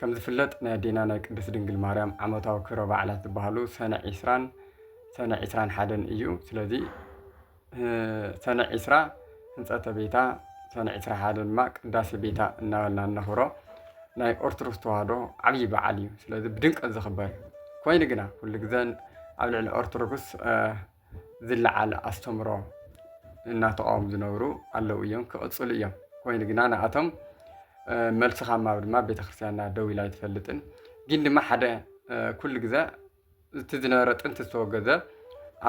ከም ዝፍለጥ ናይ ኣዴና ናይ ቅድስት ድንግል ማርያም ዓመታዊ ክብረ በዓላት ዝበሃሉ ሰነ ዒስራን ሰነ ዒስራን ሓደን እዩ። ስለዚ ሰነ ዒስራ ህንፀተ ቤታ ሰነ ዒስራ ሓደ ድማ ቅዳሴ ቤታ እናበልና እነኽብሮ ናይ ኦርቶዶክስ ተዋህዶ ዓብዪ በዓል እዩ። ስለዚ ብድምቀት ዝኽበር ኮይኑ ግና ኩሉ ግዘ ኣብ ልዕሊ ኦርቶዶክስ ዝለዓለ ኣስተምሮ እናተቓወሙ ዝነብሩ ኣለዉ እዮም፣ ክቕፅሉ እዮም። ኮይኑ ግና ንኣቶም መልሲ ካብ ማብ ድማ ቤተክርስትያንና ደው ኢላ ኣይትፈልጥን። ግን ድማ ሓደ ኩሉ ግዘ እቲ ዝነበረ ጥንቲ ዝተወገዘ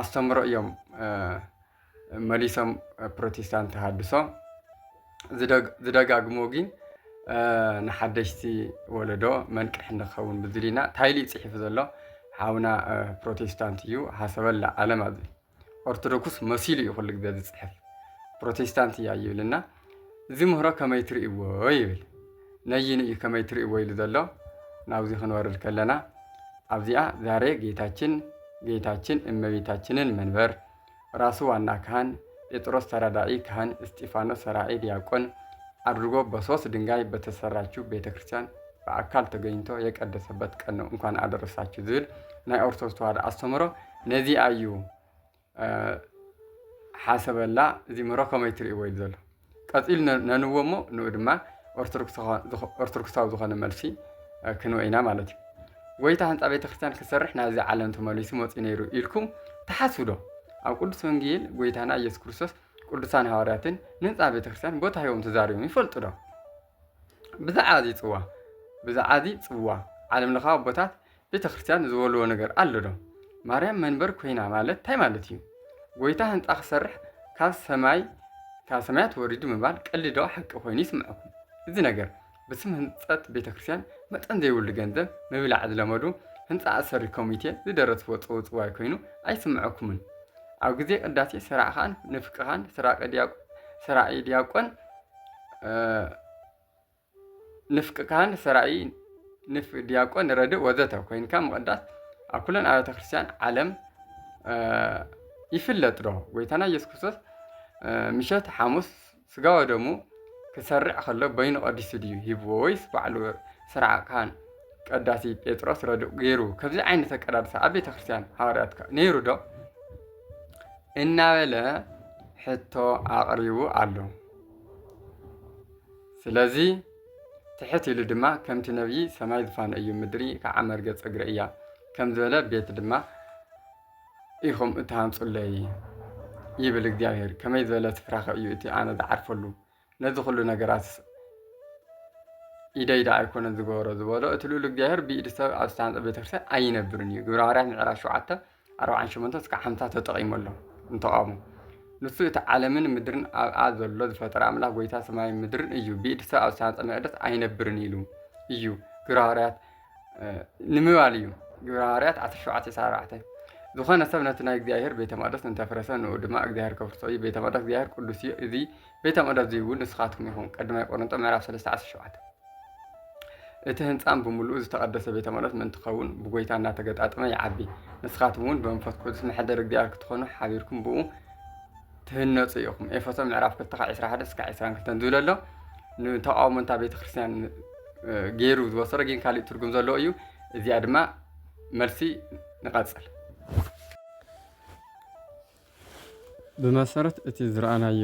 ኣስተምሮ እዮም መሊሶም ፕሮቴስታንት ተሃድሶ ዝደጋግሞ ግን ንሓደሽቲ ወለዶ መንቅሒ ንኸውን ብዝብል ኢና ታይሊ ፅሒፉ ዘሎ ሓውና ፕሮቴስታንት እዩ ሃሰበላ ዓለም ኣብ ኦርቶዶክስ መሲሉ እዩ ኩሉ ግዜ ዝፅሕፍ ፕሮቴስታንት እያ ይብልና እዚ ምህሮ ከመይ ትርእይዎ ይብል ነይኑ እዩ ከመይ ትርእይዎ ኢሉ ዘሎ ናብዚ ክንወርድ ከለና ኣብዚኣ ዛሬ ጌታችን ጌታችን እመቤታችንን መንበር ራሱ ዋና ካህን፣ ጴጥሮስ ተራዳኢ ካህን፣ እስጢፋኖስ ሰራዒ ዲያቆን ኣድርጎ በሶስት ድንጋይ በተሰራችው ቤተ ክርስቲያን ብኣካል ተገኝቶ የቀደሰበት ቀን ነው እንኳን ኣደረሳችሁ ዝብል ናይ ኦርቶዶክስ ተዋህዶ ኣስተምህሮ ነዚኣ እዩ ሓሰበላ እዚ ምህሮ ከመይ ትርእይዎ ኢሉ ዘሎ ቀጺሉ ነ- ነንዎ እሞ ንኡ ድማ ኦርቶዶክስ ዝኾ- ዝኾ- ኦርቶዶክሳዊ ዝኾነ መልሲ እ፣ ክንወ ኢና ማለት እዩ ጎይታ ህንፃ ቤተ ክርስቲያን ክሰርሕ ናብዚ ዓለም ተመሊሱ መፅኡ ነይሩ ኢልኩም ትሓስቡ ዶ ኣብ ቅዱስ ወንጌል ጎይታና ኢየሱስ ክርስቶስ ቅዱሳን ሃዋርያትን ንህንፃ ቤተ ክርስቲያን ቦታ ሂቦም ተዛሪቦም ይፈልጡ ዶ ብዛዕባ እዚ ጽዋ ብዛዕባ እዚ ጽዋ ዓለም ለኻዊ ኣቦታት ቤተ ክርስቲያን ዝበልዎ ነገር ኣሎ ዶ? ማርያም መንበር ኮይና ማለት እንታይ ማለት እዩ? ጎይታ ህንፃ ክሰርሕ ካብ ሰማይ ካብ ሰማያት ወሪዱ ምባል ቀልዲ ዶ ሓቂ ኮይኑ ይስምዐኩም? እዚ ነገር ብስም ህንፀት ቤተ ክርስቲያን መጠን ዘይብሉ ገንዘብ ምብላዕ ዝለመዱ ህንፃ ኣሰሪ ኮሚቴ ዝደረስዎ ጽውጽዋይ ኮይኑ ኣይስምዐኩምን? ኣብ ግዜ ቅዳሴ ሰራዕኻን ንፍቅኻን ሰራቂ ዲያቆ ሰራቂ ዲያቆን ንፍቂ ካህን ሰራኢ ንፍ ዲያቆን ረድእ ወዘተ ኮይንካ ምቕዳስ ኣብ ኩለን ኣብያተ ክርስቲያን ዓለም ይፍለጥ ዶ? ጎይታና ኢየሱስ ክርስቶስ ምሸት ሓሙስ ስጋ ወደሙ ክሰርዕ ከሎ በይኑ ቀዲሱ ድዩ ሂብዎ ወይስ ባዕሉ ስርዓ ካህን ቀዳሲ ጴጥሮስ ረድእ ገይሩ? ከምዚ ዓይነት ኣቀዳድሳ ኣብ ቤተ ክርስቲያን ሃዋርያት ነይሩ ዶ? እናበለ ሕቶ ኣቕሪቡ ኣሎ። ስለዚ ትሕት ኢሉ ድማ ከምቲ ነብዪ ሰማይ ዝፋነ እዩ ምድሪ ከዓ መርገፅ እግሪ እያ ከም ዝበለ ቤት ድማ ኢኹም እትሃንፁለይ ይብል እግዚኣብሔር። ከመይ ዝበለ ስፍራኸ እዩ እቲ ኣነ ዝዓርፈሉ? ነዚ ኩሉ ነገራት ኢደይ ደኣ ኣይኮነን ዝገበሮ ዝበሎ እቲ ልኡል እግዚኣብሔር ብኢድ ሰብ ኣብ ዝተሃንፀ ቤተክርስትያን ኣይነብርን እዩ ግብረ ሃዋርያት ምዕራፍ ሸውዓተ ኣርባዓን ሸሞንተ እስከ ሓምሳ ተጠቒሙ ኣሎ ንተቓውሞ ንሱ እቲ ዓለምን ምድርን ኣብኣ ዘሎ ዝፈጠረ ኣምላኽ ጎይታ ሰማይን ምድርን እዩ። ብኢድ ሰብ ኣብ ዝተሃንጸ መቅደስ ኣይነብርን ኢሉ እዩ። ግብረ ሃዋርያት ንምባል እዩ። ግብረ ሃዋርያት ዓሰርተ ሸውዓተ ዕስራን ኣርባዕተን ዝኾነ ሰብ ነቲ ናይ እግዚኣብሔር ቤተ መቕደስ እንተፍረሰ ንኡ ድማ እግዚኣብሔር ከፍርሶ እዩ ቤተ መቕደስ እግዚኣብሔር ቅዱስ እዩ እዚ ቤተ መቕደስ እዚ እውን ንስኻትኩም ይኹም ቀድማይ ቆሮንጦ ምዕራፍ 3 17 እቲ ህንፃም ብምሉኡ ዝተቐደሰ ቤተ መቕደስ ምእንቲ ኸውን ብጎይታ እናተገጣጥመ ይዓቢ ንስኻትኩም እውን ብመንፈስ ቅዱስ መሐደር እግዚኣብሔር ክትኾኑ ሓቢርኩም ብኡ ትህነጹ ኢኹም። ኤፌሶ ምዕራፍ ክልተ ካብ ዕስራ ሓደ እስካዕ ዕስራን ክልተን ዝብል ኣሎ ንተቃውሞ እንታ ቤተ ክርስቲያን ገይሩ ዝወሰዶ ግን ካሊእ ትርጉም ዘለዎ እዩ። እዚኣ ድማ መልሲ ንቐጽል። ብመሰረት እቲ ዝረኣናዮ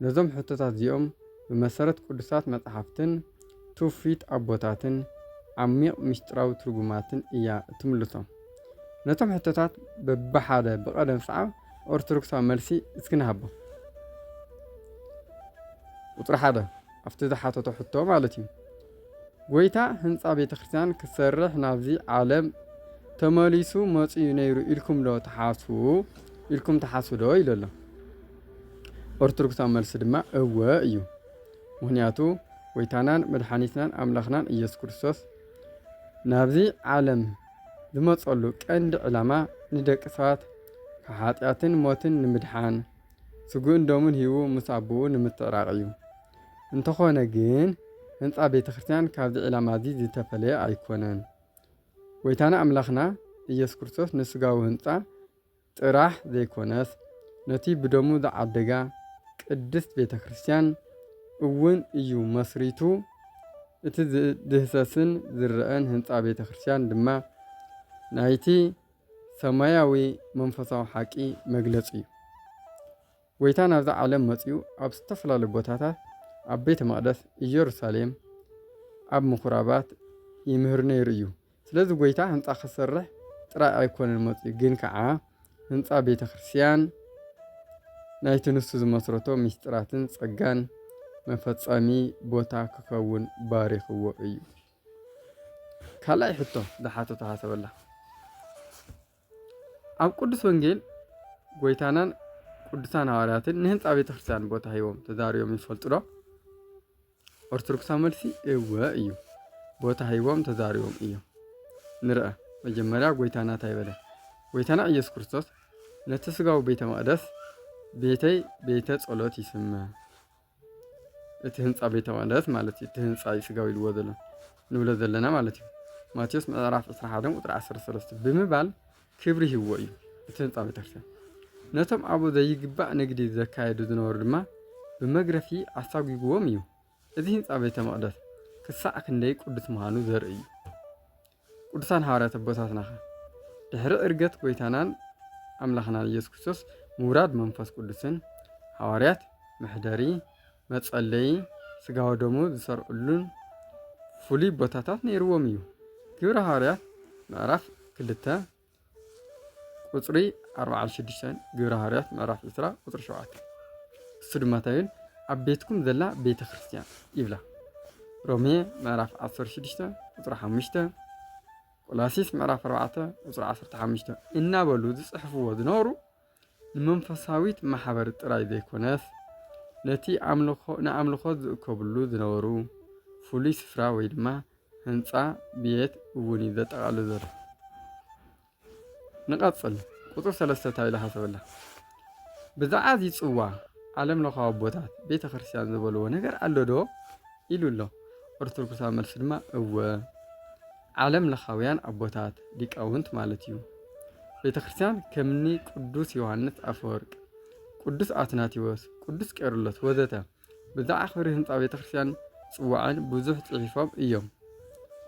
ነዞም ሕቶታት እዚኦም ብመሰረት ቅዱሳት መጻሕፍትን ትውፊት ኣቦታትን ዓሚቕ ምስጢራዊ ትርጉማትን እያ እትምልሶም። ነቶም ሕቶታት በብሓደ ብቐደም ሰዓብ ኦርቶዶክሳዊ መልሲ እስኪ ንሃቦም። ቁጽሪ ሓደ፣ ኣብቲ ዝሓተቶ ሕቶ ማለት እዩ። ጎይታ ህንጻ ቤተክርስትያን ክሰርሕ ናብዚ ዓለም ተመሊሱ መጽዩ ነይሩ ኢልኩም ዶ ትሓስቡ ኢልኩም ትሓስቡ ዶ ኢሉ ኣሎ ኦርቶዶክሳዊ መልሲ ድማ እወ እዩ ምክንያቱ ጎይታናን መድሓኒትናን ኣምላኽናን ኢየሱስ ክርስቶስ ናብዚ ዓለም ዝመጸሉ ቀንዲ ዕላማ ንደቂ ሰባት ካብ ሓጢኣትን ሞትን ንምድሓን ስግኡን ደሙን ሂቡ ምስ ኣቦኡ ንምትዕራቕ እዩ። እንተኾነ ግን ህንጻ ቤተ ክርስቲያን ካብዚ ዒላማ እዚ ዝተፈለየ ኣይኮነን። ጐይታና ኣምላኽና ኢየሱስ ክርስቶስ ንስጋዊ ህንጻ ጥራሕ ዘይኮነስ ነቲ ብደሙ ዝዓደጋ ቅድስት ቤተ ክርስቲያን እውን እዩ መስሪቱ እቲ ዝድህሰስን ዝረኣን ህንጻ ቤተ ክርስቲያን ድማ ናይቲ ሰማያዊ መንፈሳዊ ሓቂ መግለጺ እዩ። ጎይታ ናብዛ ዓለም መጺኡ ኣብ ዝተፈላለዩ ቦታታት ኣብ ቤተ መቕደስ ኢየሩሳሌም ኣብ ምኹራባት ይምህር ነይሩ እዩ። ስለዚ ጎይታ ህንፃ ክሰርሕ ጥራይ ኣይኮነን መፂኡ ግን ከዓ ህንፃ ቤተ ክርስቲያን ናይቲ ንሱ ዝመስረቶ ምስጢራትን ጸጋን መፈጸሚ ቦታ ክኸውን ባሪኽዎ እዩ። ካልኣይ ሕቶ ዝሓተቶ ሃሰበላ ኣብ ቅዱስ ወንጌል ጎይታናን ቅዱሳን ሃዋርያትን ንህንፃ ቤተ ክርስቲያን ቦታ ሂቦም ተዛሪቦም ይፈልጡ ዶ? ኦርቶዶክሳዊ መልሲ እወ እዩ። ቦታ ሂቦም ተዛሪቦም እዮም። ንርአ መጀመሪያ ጎይታና እንታይ በለ? ጎይታና ኢየሱስ ክርስቶስ ነቲ ስጋዊ ቤተ መቅደስ ቤተይ ቤተ ጸሎት ይስመ እቲ ህንጻ ቤተ መቕደስ ማለት እዩ። እቲ ህንጻ እዩ ስጋዊ ኢልዎ ዘሎ ንብሎ ዘለና ማለት እዩ። ማቴዎስ ምዕራፍ 21 ቁጥሪ 13 ብምባል ክብሪ ሂብዎ እዩ እቲ ህንፃ ቤተክርስትያን ነቶም ኣብኡ ዘይግባእ ንግዲ ዘካየዱ ዝነበሩ ድማ ብመግረፊ ኣሳጒግዎም እዩ እዚ ህንፃ ቤተ መቕደስ ክሳዕ ክንደይ ቅዱስ ምዃኑ ዘርኢ እዩ ቅዱሳን ሃዋርያት ኣቦታትናኸ? ድሕሪ ዕርገት ጐይታናን ኣምላኽናን ኢየሱስ ክርስቶስ ምውራድ መንፈስ ቅዱስን ሃዋርያት መሕደሪ፣ መጸለዪ፣ ስጋ ወደሙ ዝሰርዕሉን ፍሉይ ቦታታት ነይርዎም እዩ። ግብረ ሃዋርያት ምዕራፍ ክልተ ቁጽሪ ኣርብዓን ሽዱሽተን ግብሪ ሃዋርያት ምዕራፍ ዕስራ ቁጽሪ ሸውዓተ እሱ ድማ እንታይ ይብል ኣብ ቤትኩም ዘላ ቤተ ክርስቲያን ይብላ ሮሜ ምዕራፍ ዓሰርተ ሽዱሽተ ቁጽሪ ሓሙሽተ ቆላሲስ ምዕራፍ ኣርባዕተ ቁጽሪ ዓሰርተ ሓሙሽተ እናበሉ ዝጽሕፍዎ ዝነበሩ ንመንፈሳዊት ማሕበር ጥራይ ዘይኰነስ፣ ነቲ ኣምልኾ ንኣምልኾት ዝእከብሉ ዝነበሩ ፍሉይ ስፍራ ወይ ድማ ህንጻ ቤት እውን እዩ ዘጠቓልል ዘሎ። ንቐጽል ቁጽሪ ሰለስተ እንታይ ኢላ ሓሰበላ? ብዛዕባ እዚ ጽዋ ዓለም ለኻዊ ኣቦታት ቤተ ክርስቲያን ዝበልዎ ነገር ኣሎ ዶ ኢሉ ኣሎ። ኦርቶዶክሳዊ መልሲ ድማ እወ ዓለም ለኻውያን ኣቦታት ሊቃውንት ማለት እዩ። ቤተ ክርስቲያን ከምኒ ቅዱስ ዮሐንስ ኣፈወርቅ፣ ቅዱስ ኣትናቴዎስ፣ ቅዱስ ቄርሎስ ወዘተ ብዛዕ ክብሪ ህንፃ ቤተ ክርስቲያን ጽዋዕን ብዙሕ ጽሒፎም እዮም።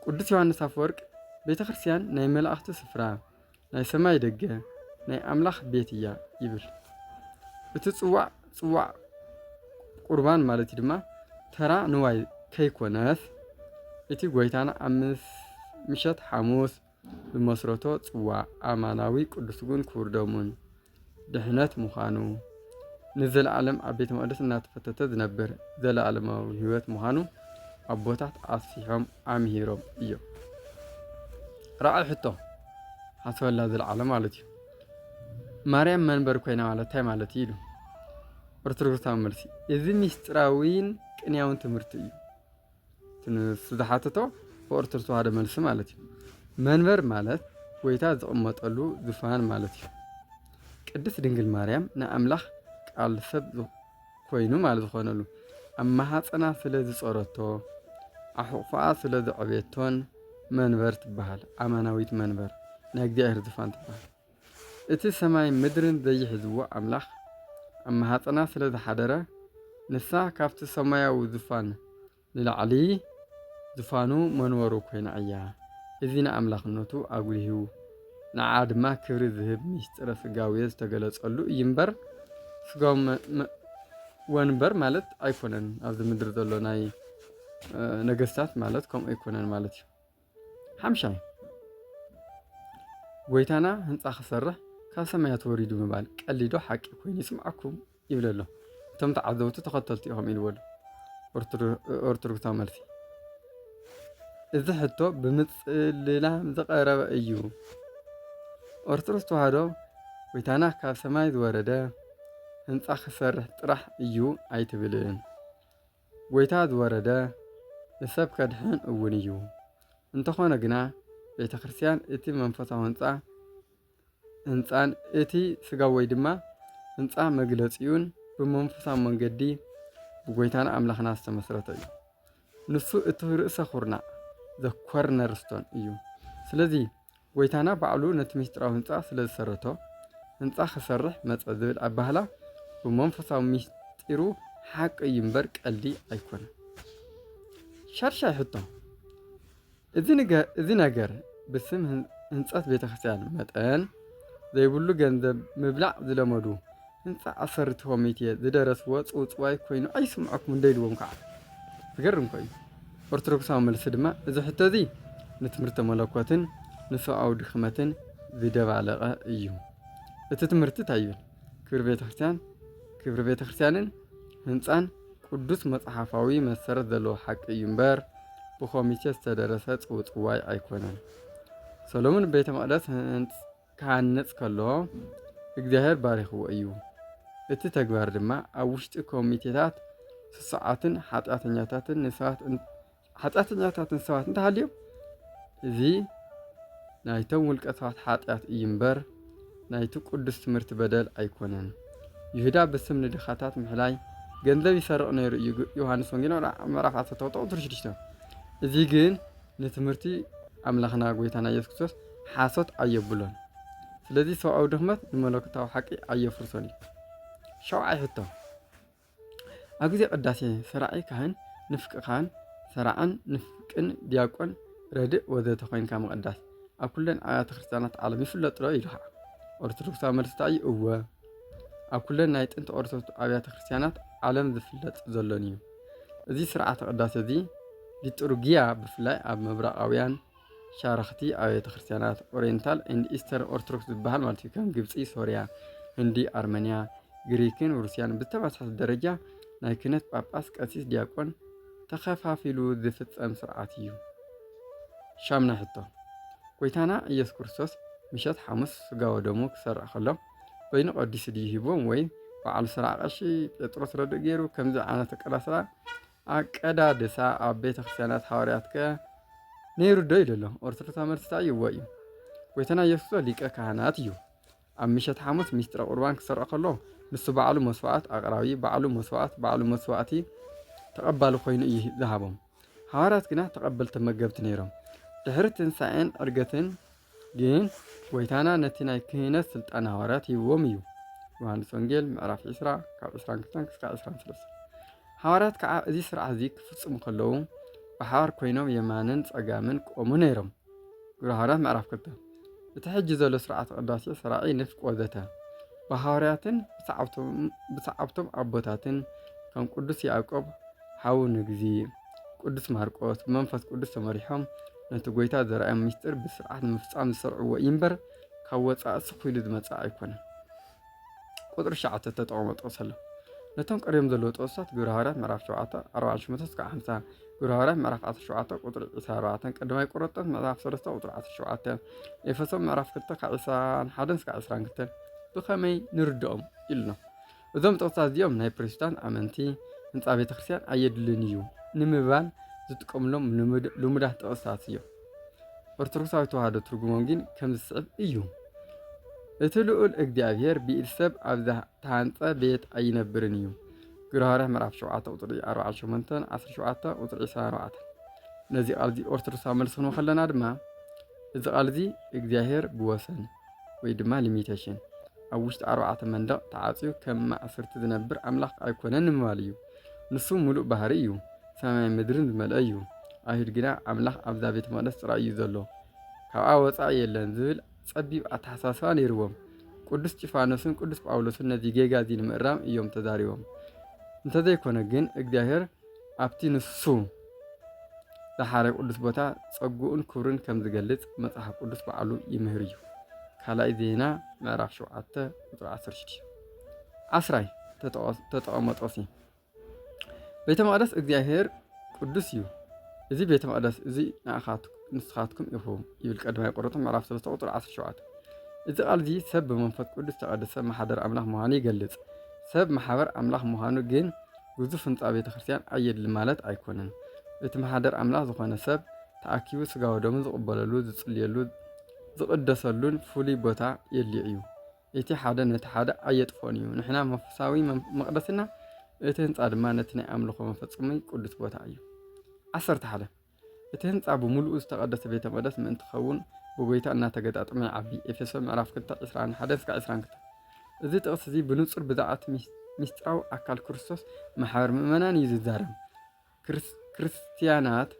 ቅዱስ ዮሐንስ ኣፈወርቅ ቤተ ክርስቲያን ናይ መላእኽቲ ስፍራ፣ ናይ ሰማይ ደገ ናይ ኣምላኽ ቤት እያ ይብል። እቲ ጽዋዕ ጽዋዕ ቁርባን ማለት እዩ ድማ ተራ ንዋይ ከይኮነስ እቲ ጎይታና ኣብ ምሸት ሓሙስ ብመስረቶ ጽዋዕ ኣማናዊ ቅዱስ ጉን ክቡር ደሙን ድሕነት ምዃኑ ንዘለዓለም ኣብ ቤተ መቕደስ እናተፈተተ ዝነብር ዘለዓለማዊ ህይወት ምዃኑ ኣቦታት ኣስፊሖም ኣምሂሮም እዮም ራዕይ ሕቶ ሓስበላ ዝለዓለ ማለት እዩ ማርያም መንበር ኮይና ማለት እንታይ ማለት እዩ ኢሉ ኦርቶዶክሳዊ መልሲ እዚ ሚስጥራዊን ቅንያውን ትምህርቲ እዩ ንዝሓተቶ ብኦርቶዶክስ ተዋህዶ መልሲ ማለት እዩ። መንበር ማለት ጎይታ ዝቕመጠሉ ዝፋን ማለት እዩ። ቅድስት ድንግል ማርያም ንኣምላኽ ቃል ሰብ ኮይኑ ማለት ዝኾነሉ ኣብ ማሃፀና ስለ ዝፀረቶ ኣሕቑፋኣ ስለ ዘዕበየቶን መንበር ትበሃል። ኣማናዊት መንበር ናይ እግዚኣብሔር ዝፋን ትበሃል። እቲ ሰማይን ምድርን ዘይሕዝዎ ኣምላኽ ኣብ ማህጸና ስለ ዝሓደረ ንሳ ካብቲ ሰማያዊ ዝፋን ንላዕሊ ዝፋኑ መንበሩ ኮይና እያ። እዚ ንኣምላኽነቱ ኣጉሊሁ ንዓ ድማ ክብሪ ዝህብ ሚስጢረ ስጋዌ ዝተገለጸሉ እዩ እምበር ስጋዊ ወንበር ማለት ኣይኮነን ኣብዚ ምድሪ ዘሎ ናይ ነገስታት ማለት ከምኡ ኣይኮነን ማለት እዩ። ሓምሻይ ጎይታና ህንፃ ክሰርሕ ካብ ሰማያት ወሪዱ ምባል ቀሊዶ ሓቂ ኮይኑ ይስምዓኩም ይብል ኣሎ እቶም ተዓዘብቱ ተኸተልቲ ኢኹም ኢልዎ ኣሎ ኦርቶዶክሳዊ መልሲ እዚ ሕቶ ብምፅልላም ዝቐረበ እዩ ኦርቶዶክስ ተዋህዶ ጎይታና ካብ ሰማይ ዝወረደ ህንፃ ክሰርሕ ጥራሕ እዩ ኣይትብልን ጐይታ ዝወረደ ንሰብ ከድሕን እውን እዩ። እንተኾነ ግና ቤተ ክርስቲያን እቲ መንፈሳዊ ህንጻ ህንጻን እቲ ስጋዊ ወይ ድማ ህንጻ መግለጺኡን ብመንፈሳዊ መንገዲ ብጐይታና ኣምላኽና ዝተመስረተ እዩ። ንሱ እቲ ርእሰ ኩርናዕ ዘኮርነርስቶን እዩ። ስለዚ ጐይታና ባዕሉ ነቲ ምስጢራዊ ህንጻ ስለ ዝሰረቶ፣ ህንጻ ክሰርሕ መጸ ዝብል ኣባህላ ብመንፈሳዊ ምስጢሩ ሓቂ እዩ እምበር ቀልዲ ኣይኮነን። ሻድሻይ ሕቶ፣ እዚ ነገር ብስም ህንጸት ቤተክርስትያን መጠን ዘይብሉ ገንዘብ ምብላዕ ዝለመዱ እንፋዕ ኣሰርቲ ኮሚቴ ዝደረስዎ ጽውጽዋይ ኮይኑ ኣይስምዖኩምን ዶ ኢልዎም ከኣ? ዝገርም እኮ እዩ። ኦርቶዶክሳዊ መልሲ ድማ እዚ ሕቶ እዚ ንትምህርተ መለኮትን ንሰብኣዊ ድኽመትን ዝደባለቐ እዩ። እቲ ትምህርቲ እንታይ ይብል? ክብሪ ቤተ ክርስቲያን ክብሪ ቤተ ክርስቲያንን ህንጻን ቅዱስ መጽሓፋዊ መሰረት ዘለዎ ሓቂ እዩ እምበር ብኮሚቴ ዝተደረሰ ጽውጽዋይ ኣይኮነን። ሰሎሙን ቤተ መቕደስ ክሃንጽ ከሎ እግዚኣብሔር ባሪኽዎ እዩ። እቲ ተግባር ድማ ኣብ ውሽጢ ኮሚቴታት ስሱዓትን ሓጢኣተኛታትን ንሰባት ሓጢኣተኛታትን ሰባት እንተሃልዮም እዚ ናይቶም ውልቀ ሰባት ሓጢኣት እዩ እምበር ናይቲ ቅዱስ ትምህርቲ በደል ኣይኮነን። ይሁዳ ብስም ንድኻታት ምሕላይ ገንዘብ ይሰርቕ ነይሩ እዩ። ዮሃንስ ወንጌል ምዕራፍ 16 እዚ ግን ንትምህርቲ ኣምላኽና ጎይታና ኢየሱስ ክርስቶስ ሓሶት ኣየብሎን። ስለዚ ሰብኣዊ ድኽመት ንመለኮታዊ ሓቂ ኣየፍርሶን እዩ። ሸውዓይ ሕቶ ኣብ ግዜ ቅዳሴ ሰራዒ ካህን፣ ንፍቂ ካህን፣ ሰራዕን ንፍቅን ዲያቆን ረድእ ወዘተ ኮይንካ ምቕዳስ ኣብ ኩለን ኣብያተ ክርስቲያናት ዓለም ይፍለጥ ዶ ኢልኻ ኦርቶዶክሳዊ መልስታ እዩ እወ ኣብ ኩለን ናይ ጥንቲ ኦርቶዶክስ ኣብያተ ክርስቲያናት ዓለም ዝፍለጥ ዘሎን እዩ እዚ ስርዓተ ቅዳሴ እዚ ሊጡርጊያ ብፍላይ ኣብ ምብራቓውያን ሻራኽቲ ኣብያተ ክርስቲያናት ኦሪየንታል ኤንድ ኢስተርን ኦርቶዶክስ ዝበሃል ማለት እዩ ከም ግብፂ፣ ሶርያ፣ ህንዲ፣ ኣርመንያ፣ ግሪክን ሩስያን ብተመሳሳሊ ደረጃ ናይ ክህነት ጳጳስ፣ ቀሲስ፣ ዲያቆን ተኸፋፊሉ ዝፍጸም ስርዓት እዩ። ሻምናይ ሕቶ ጎይታና ኢየሱስ ክርስቶስ ምሸት ሓሙስ ስጋ ወደሙ ክሰርዕ ከሎ ወይኒ ቀዲሱ ድዩ ሂቦም ወይ በዓል ስራ ቀሺ ጴጥሮስ ረድእ ገይሩ ከምዚ ዓይነት ኣቀዳስራ ኣቀዳድሳ ኣብ ቤተ ክርስቲያናት ሃዋርያት ከ ነይሩ ዶ ኢሉ ኣሎ ኦርቶዶክስ መልስታ እዩዎ እዩ ጎይታና ኢየሱስ ሊቀ ካህናት እዩ ኣብ ምሸት ሓሙስ ሚስጥረ ቁርባን ክሰርዖ ከሎ ንሱ ባዕሉ መስዋዕት ኣቕራቢ ባዕሉ መስዋዕት ባዕሉ መስዋዕቲ ተቐባሊ ኮይኑ እዩ ዝሃቦም ሃዋርያት ግና ተቐበልቲ መገብቲ ነይሮም ድሕሪ ትንሣኤን ዕርገትን ግን ጎይታና ነቲ ናይ ክህነት ስልጣን ሃዋርያት ሂብዎም እዩ። ዮሃንስ ወንጌል ምዕራፍ 20 ካብ 22 ክሳብ 23 ሃዋርያት ከዓ እዚ ስርዓት እዚ ክፍፅሙ ከለዉ ብሓባር ኮይኖም የማንን ፀጋምን ክቆሙ ነይሮም። ግብረ ሃዋርያት ምዕራፍ 2 እቲ ሕጂ ዘሎ ስርዓተ ቅዳሴ ሰራዒ ንፍቅ ወዘተ ብሃዋርያትን ብሰዓብቶም ኣቦታትን ከም ቅዱስ ያዕቆብ ሓው ንግዚ ቅዱስ ማርቆስ ብመንፈስ ቅዱስ ተመሪሖም ነቲ ጎይታ ዘርኣዮም ምስጢር ብስርዓት ምፍፃም ዝሰርዕዎ እዩ እምበር ካብ ወፃኢ ስኺሉ ዝመፀ ኣይኮነን። ቁፅሪ ሸዓተ ተጠቕሞ ጥቕስ ኣሎ ነቶም ቀሪቦም ዘለዎ ጥቕስታት ግብረ ሃዋርያት ምዕራፍ ሸውዓተ ኣርባዕን ሽሞንተ እስካብ ሓምሳ ግብረ ሃዋርያት ምዕራፍ ዓሰርተ ሸውዓተ ቁፅሪ ዒስራ ኣርባዕተን ቀዳማይ ቆሮንጦስ ምዕራፍ ሰለስተ ቁፅሪ ዓሰርተ ሸውዓተ ኤፌሶን ምዕራፍ ክልተ ካብ ዒስራን ሓደን እስካብ ዒስራን ክልተን ብኸመይ ንርድኦም ኢሉና እዞም ጥቕስታት እዚኦም ናይ ፕሮቴስታንት ኣመንቲ ህንፃ ቤተ ክርስቲያን ኣየድልን እዩ ንምባል ዝጥቀምሎም ልሙዳት ጥቕስታት እዮም። ኦርቶዶክሳዊ ተዋህዶ ትርጉሞም ግን ከም ዝስዕብ እዩ። እቲ ልዑል እግዚኣብሔር ብኢድ ሰብ ኣብ ዝተሃንፀ ቤት ኣይነብርን እዩ። ግብረ ሃዋርያ ምዕራፍ 7 ቁፅሪ 48 17 ቁፅሪ 24 ነዚ ቃል እዚ ኦርቶዶክሳዊ መልሲ ክንወ ከለና ድማ እዚ ቃል እዚ እግዚኣብሔር ብወሰን ወይ ድማ ሊሚቴሽን ኣብ ውሽጢ ኣርባዕተ መንደቕ ተዓፅዩ ከም ማእሰርቲ ዝነብር ኣምላኽ ኣይኮነን ንምባል እዩ። ንሱ ምሉእ ባህሪ እዩ፣ ሰማይ ምድርን ዝመልአ እዩ። ኣይሁድ ግና ኣምላኽ ኣብዛ ቤተ መቕደስ ጥራይ እዩ ዘሎ፣ ካብኣ ወፃኢ የለን ዝብል ጸቢብ ኣተሓሳስባ ነይርዎም። ቅዱስ ጢፋኖስን ቅዱስ ጳውሎስን ነዚ ጌጋ እዚ ንምእራም እዮም ተዛሪቦም። እንተዘይኮነ ግን እግዚኣብሔር ኣብቲ ንሱ ዝሓረዮ ቅዱስ ቦታ ጸግኡን ክብሩን ከም ዝገልጽ መጽሓፍ ቅዱስ ባዕሉ ይምህር እዩ። ካልኣይ ዜና ምዕራፍ 7 ቁጽሪ 16 ዓስራይ ተጠቐመጦሲ ቤተ መቕደስ እግዚኣብሔር ቅዱስ እዩ እዚ ቤተ መቕደስ እዚ ንስኻትኩም ኢኹም ይብል ቀዳማይ ቆሮንቶስ ምዕራፍ 3 ቁፅሪ 17 እዚ ቃል እዚ ሰብ ብመንፈስ ቅዱስ ተቐደሰ ማሓደር ኣምላኽ ምዃኑ ይገልጽ ሰብ ማሕበር ኣምላኽ ምዃኑ ግን ግዙፍ ህንጻ ቤተ ክርስቲያን ኣየድሊ ማለት ኣይኮነን። እቲ መሓደር ኣምላኽ ዝኾነ ሰብ ተኣኪቡ ስጋ ወደሙ ዝቕበለሉ፣ ዝጽልየሉ፣ ዝቕደሰሉን ፍሉይ ቦታ የድልዮ እዩ። እቲ ሓደ ነቲ ሓደ ኣየጥፍኦን እዩ። ንሕና መንፈሳዊ መቕደስና፣ እቲ ህንፃ ድማ ነቲ ናይ ኣምልኾ መፈጸሚ ቅዱስ ቦታ እዩ። ዓሰርተ ሓደ እቲ ህንጻ ብምሉኡ ዝተቐደሰ ቤተ መቅደስ ምእንቲ ክኸውን ብጎይታ እናተገጣጠመ ይዓቢ ኤፌሶ ምዕራፍ 2 21-22 እዚ ጥቕሲ እዚ ብንጹር ብዛዕባ እቲ ምስጢራዊ ኣካል ክርስቶስ ማሕበር ምእመናን እዩ ዝዛረብ ክርስትያናት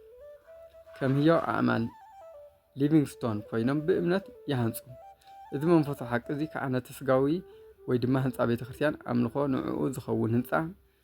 ከም ህያው ኣእማን ሊቪንግስቶን ኮይኖም ብእምነት ይሃንጹ እዚ መንፈሶ ሓቂ እዚ ከዓ ነቲ ስጋዊ ወይ ድማ ህንፃ ቤተ ክርስቲያን ኣምልኾ ንዕኡ ዝኸውን ህንፃ